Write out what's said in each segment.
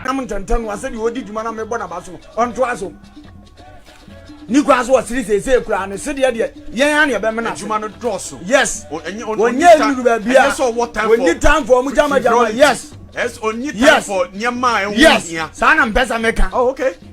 nam ntɛntɛm no asɛ deɛ ɔdi dwuma na mebɔ naba so no ɔntoa so ne kura so ɔsere seesei kura ne sedeɛ deɛ yɛn a neɛ bɛmena adwuma no dɔɔso yes ɔnyɛ nuru baabi a ɔnyi time for ɔmo gyama gyama yes yes saa na mpɛ sɛ meka oh, okay.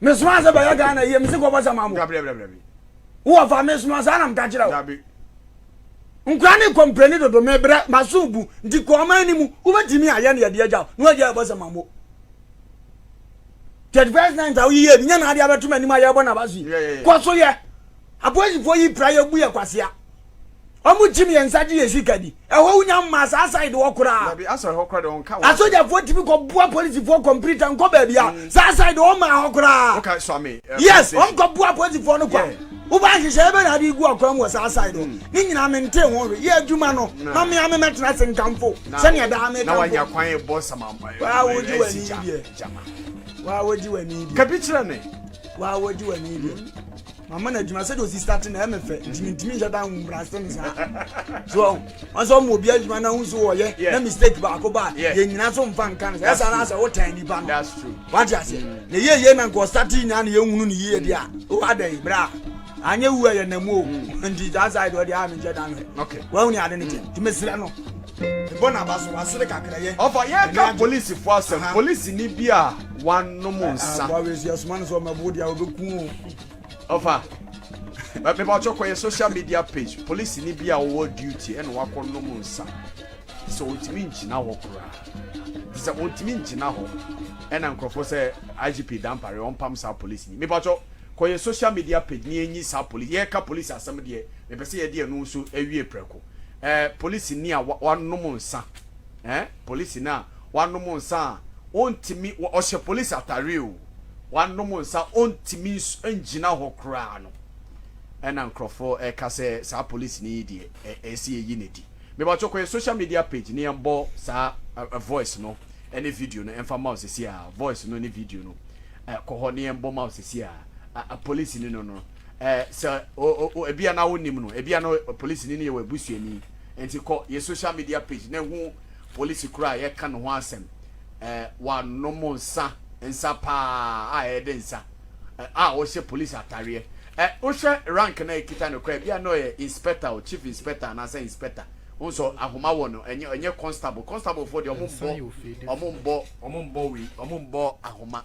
Me soma sɛ bɛyɛ Ghana yie, me se kɔbɔ sɛ ma mo. Dabi dabi dabi dabi. Wowɔ fa me soma saa na meka kyerɛ wo. Dabi. Nkura ne kɔmprɛni dodo me brɛ ma so bu nti kɔ ɔman ni mu wobɛtumi a yɛ ne yɛde agya na wagya yɛbɔ sɛ ma mo. Third first night a woyiyɛ bi nyɛ na ade abɛto m'anim a yɛbɔ na basi. Kɔ so yɛ. Apolisifoɔ yi pra yɛ bu yɛ kwasea. Ɔmo kyim yɛn nsa gye yɛn sika di. Ɛhɔ wo nya mmaa saa side hɔ koraa. Dabi asɔre hɔ koraa de wɔn ka wɔn. Asogyafoɔ tumi kɔ boa polisifoɔ kɔmpirita nkɔ baabi a mm. saa side hɔ mmaa hɔ koraa. Woka swami. Eh, yes, wɔn kɔ boa polisifoɔ no kwa. Wobaa nhyehyɛeɛ bɛ na ade gu akwan mu wɔ saa side hɔ. Mm. Ne nyinaa mente ho hwɛ. Yɛ adwuma no. Ma me ame mɛtena se nkamfo. Sɛnea daa me kamfo. Na wanya kwan yɛ bɔ sama. Waa wogye w'ani deɛ. Waa wogye w'ani deɛ. Kabi kyerɛ ne. Waa wogye w'ani deɛ. mama no adwuma sɛdeɛ ɔsi starte na ɛmɛ fɛ nti mentumi nhyɛ da nhu brase no saa so ɔn sɛ ɔma obi adwuma na hu so wɔyɛ na mistake baako ba a yɛnyina so mfa nka no sɛ ɛsa no asɛ wotan nnipa no wate aseɛ na ɛyɛ yie na nka ɔstarte nyinaa na yɛhunu no yie deɛ a wo adɛn berɛ a anyɛ wu a yɛnamu o nti saa side ɔdeɛ a menhyɛ da nhwɛ wahuni ade no kyɛ nti mesrɛ no Ebɔ n'aba so, wasere kakra yɛ. Ɔfa yɛn ka polisifo asɛm, polisini bi a wanom nsa. Aboa wei so yɛsoma no sɛ ɔmɛbo wo deɛ a ɔbɛku o. Ɔfa, meba ɔkyɛ kɔ yɛ social media page, polisini bi a ɔwɔ duty ɛna wakɔ nom nsa. Te sɛ ɔntumi ngyina hɔ koraa. Te sɛ ɔntumi ngyina hɔ. Ɛna nkurɔfoɔ sɛ IGP Dampare ɔmpam saa polisini. Meba ɔkyɛ kɔ yɛ social media page ne yɛnyi saa polisi, yɛka polisi asɛm deɛ mepɛ sɛ yɛde ɛno nso ɛwie prɛko. eh, polisini a wanom nsa, eh, polisini a wanom nsa a ɔntumi, ɔhyɛ polisi atare o, wanom nsa ɔntumi ngyina hɔ koraa no, ɛna nkurɔfoɔ ɛka sɛ saa polisini yi deɛ ɛsɛ yɛyi ne di. Mebatwɔ kɔ yɛ social media page ne yɛmbɔ saa voice no ɛne video no ɛmfa ma wo sɛsi a, voice no ne video no kɔ hɔ ne yɛmbɔ ma wo sɛsi a, polisini no no. Eh, sɛ o, o, o, ebia na wonnim no, ebia na ɔ, polisini no yɛ w'abusuani. Enti kɔ yɛ social media page na hu polisi koro a yɛka ne ho asɛm. Eh, wanom nsa, nsa paa a ɛyɛ dɛ nsa, eh, a ɔhyɛ polisi atareɛ. Eh, wohwɛ rank no a ɛkita no koraa, ebia na ɔyɛ inspector o, chief inspector anaasɛ inspector. Wohu sɛ ahoma wɔ no, ɛnyɛ, ɛnyɛ constable. Constable foɔ deɛ, wɔn mmɔ, wɔn mmɔ, wɔn mmɔ wei, wɔn mmɔ ahoma.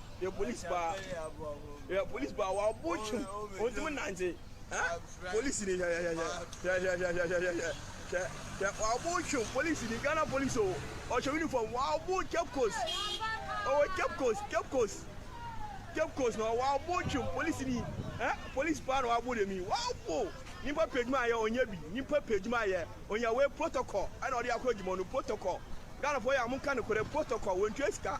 yɛ polisi paa yɛ polisi paa wa ɔbɔ twem ɔntumi nante ɛ polisi ni hwɛhwɛhwɛ hwɛhwɛhwɛhwɛhwɛ hwɛ hwɛ wa ɔbɔ twem polisi ni ghana polisi o ɔhyɛ uniform wa ɔbɔ cape coast ɔwɔ cape coast cape coast cape coast na wa ɔbɔ twem polisi ni ɛ polisi paa na wa ɔbɔ dɛm yi wa ɔbɔ nipa pɛ adwuma ayɛ ɔnyɛ bi nipa pɛ adwuma ayɛ ɔnyɛ wei protocol ɛna ɔde akɔ adwuma no protocol ghana fo yɛ a mo nka ne korɛ protocol wɔntua sika.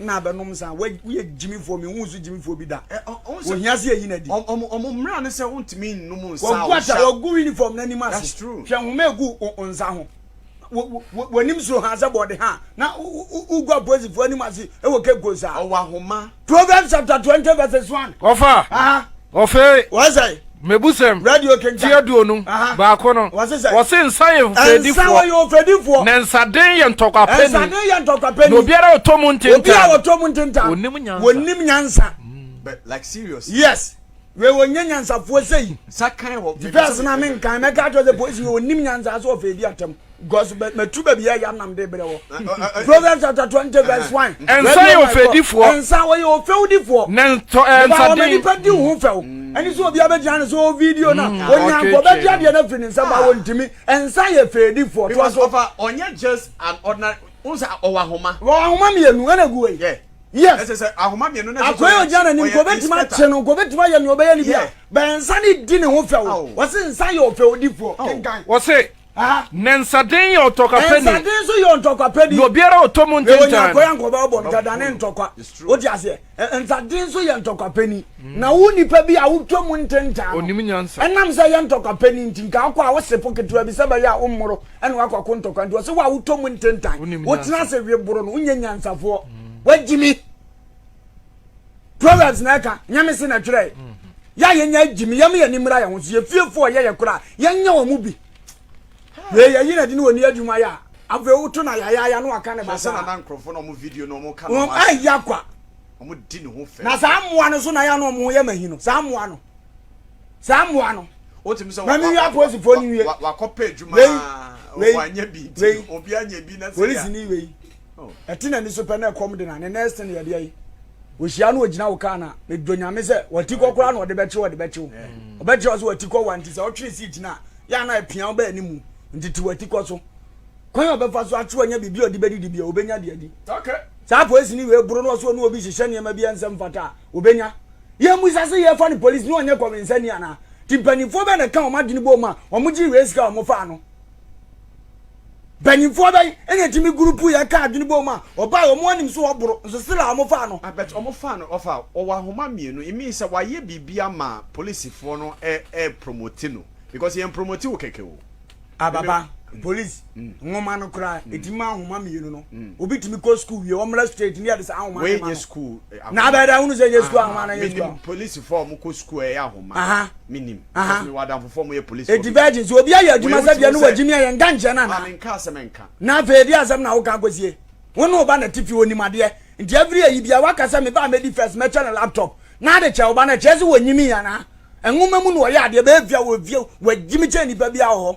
na abɛnom nsa. Wo woyɛ gyimifoɔ me nhu wo so gyimifoɔ bi da. Ɛ ɔ ɔn sɛ. Ohia sɛ yɛyi no adi. Ɔm ɔm ɔmo mmra ne sɛ wontumi nnom nsa a Wagu ata wohyɛ. wagu uniform no anim ase. That's true. Hwɛ nhoma a egu wo wo nsa ho. Wo wo wo w'anim suro haa sɛ bɔɔde haa na wo wo wo wogu apolisifoɔ anim ase wɔ Cape Coast saa. Ɔwɔ ahoma. Proverbs chapter twenty verses one. Ɔfa, Aha. Ɔfei, mebusɛm ti aduonu baako no, wɔse nsa yɛ ofɛdifoɔ, na nsaden yɛ ntɔkwapɛni, na obiara a ɔtɔ mu ntentan, ɔnim nyansa. Yes. wei wɔnyɛ nyansafoɔ sɛi nti pɛs no a menkan mɛka kyerɛ sɛ polisi wei ɔnim nyansa sɛ ɔfɛdi atɛm Because me me tu baby ya ya nam de brɛ wɔ. Proverbs chapter twenty verse one. Nsa yɛ ofɛdifoɔ. Nsa wɔyɛ ofɛwdifoɔ. Na ntɔ ɛɛ nsa den. Wɔn nipa di ho fɛw. Ɛni sɛ obi abɛgyina ne so video na onyanko bɛgye adeɛ na firi ne nsa ba wɔn ntumi. Nsa yɛ fɛdifoɔ. Because ɔfa ɔnyɛ just an ordinary. N sɛ ɔwɔ ahoma. Wɔ ahoma mmienu ɛna gu wɔ yi. Yes. Ɛsɛ sɛ ahoma mmienu na ɛsɛ sɛ ɔyɛ. Akɔyɛ ɔgyina n'anim nko obetuma akye no nko obetuma yɛ nea ɔbɛyɛ ne bi a. Bɛn nsa ne di ne ho fɛw. Wɔsi nsa yɛ ofɛwdifoɔ. Wɔsi. Nnɛnsaden yɛ ɔtɔkwapɛni. Nnɛnsaden nso yɛ ɔtɔkwapɛni. Na obiara a ɔtɔ mu ntɛntɛn no. Wɔnya kwan ankɔba ɔbɔ no dada ne ntɔkwa. Wote aseɛ? Nnɛnsaden nso yɛ ntɔkwapɛni. Na wo nipa bi a wotwa mu ntɛntɛn no. Ɔnim nyansa. Ɛnam sɛ yɛ ntɔkwapɛni nti, nka wokɔ a wose po ketewa bi sɛ ɛbɛyɛ a wommoro ɛna wakɔko ntɔkwa nti. Ɔse wo a wotwa mu ntɛntɛn. Wotena ase we boro no, wonyɛ nyansafoɔ. Wagyimi. proverbs na ɛka nyame se na twerɛe yɛ a yɛnya agyi me yɛm yɛ ne mmira yɛ ho so yɛfiefo ɔyɛ yɛ kora yɛnyɛ wɔ mu bi wei yɛyi na de ne wɔ ni adwuma yɛ a afei woto na yayaya no aka ne basa ɛyɛ kwa na saa mmoa no so na yɛ no ɔmo yɛ mahi no saa mmoa no saa mmoa no wotumi sɛ mami wi apolisifoɔ ni wie wakɔpɛ adwuma wei wei wei polisi ni wei ɛte n'ani so pɛ na ɛkɔm de na ne next thing yɛ deɛ yi ohyia no ogyina wo kaa na medɔ nyame sɛ wati kɔ koraa na ɔde bɛkye ɔde bɛkye wo ɔbɛkyerɛ wo sɛ wati kɔ wa nti sɛ ɔtwere si gyina yɛ ana apia wo bɛɛ ne mu nti te wati kɔ so kwan a ɔbɛfa so akye wanya biribi a ɔde bɛdidi bia ɔbɛnya de adi saa polisi ne wei boro no ɔso ɔne obi hyehyɛ nneɛma bi ɛnsɛ mfata a ɔbɛnya yɛn mu sase yɛ fa ne polisi ne ɔnyɛ kɔwensani anaa ti mpanimfoɔ bɛɛ na ɛka wɔn adwene bɔ mu a wɔn gye wei sika wɔn faa no Mpanyimfoɔ bɛn na ɛtumi gurupu yɛn ka adwene bom a ɔbaa yi ɔmo anim so ɔboro nso still a ɔmo faa no. Ah but ɔmo faa no ɔfa ɔwɔ ahoma mmienu it means sɛ wayɛ biribi ama polisifoɔ no ɛ ɛ promote no because yɛn promote wo kɛkɛ o. Ah baba police nwoma no koraa ɛtumi ma ahoma mmienu no obi tumi kɔ school wie ɔmmra straight ne yɛde saa ahoma no ma no. Wei nyɛ school. na abɛda ahunu sɛ nyɛ sukuu ahoma anaa nyɛ sukuu ahoma. polisifoɔ a wɔkɔ sukuu a ɛyɛ ahoma menim because mewɔ adamfofoɔ a wɔyɛ polisifoɔ. eti virgin sɛ obi ayɛ adwuma sɛ deɛ no wɔ gyimi ɛyɛ nka nkyɛn no anaa. maame nka asɛm nka. na afei ɛdeɛ asɛm na woka akɔsie wo ne wo ba na te fie onim adeɛ nti every ayi bia woaka sɛ me ba a mɛdi first mɛkyɛ no laptop na ade kyɛ wo ba no ɛkyerɛ sɛ wɔnyimi anaa ɛnwoma mu na wɔyɛ adeɛ bɛyɛ fie a wɔfie wɔagyimi kyɛn nipa biara wɔ hɔ.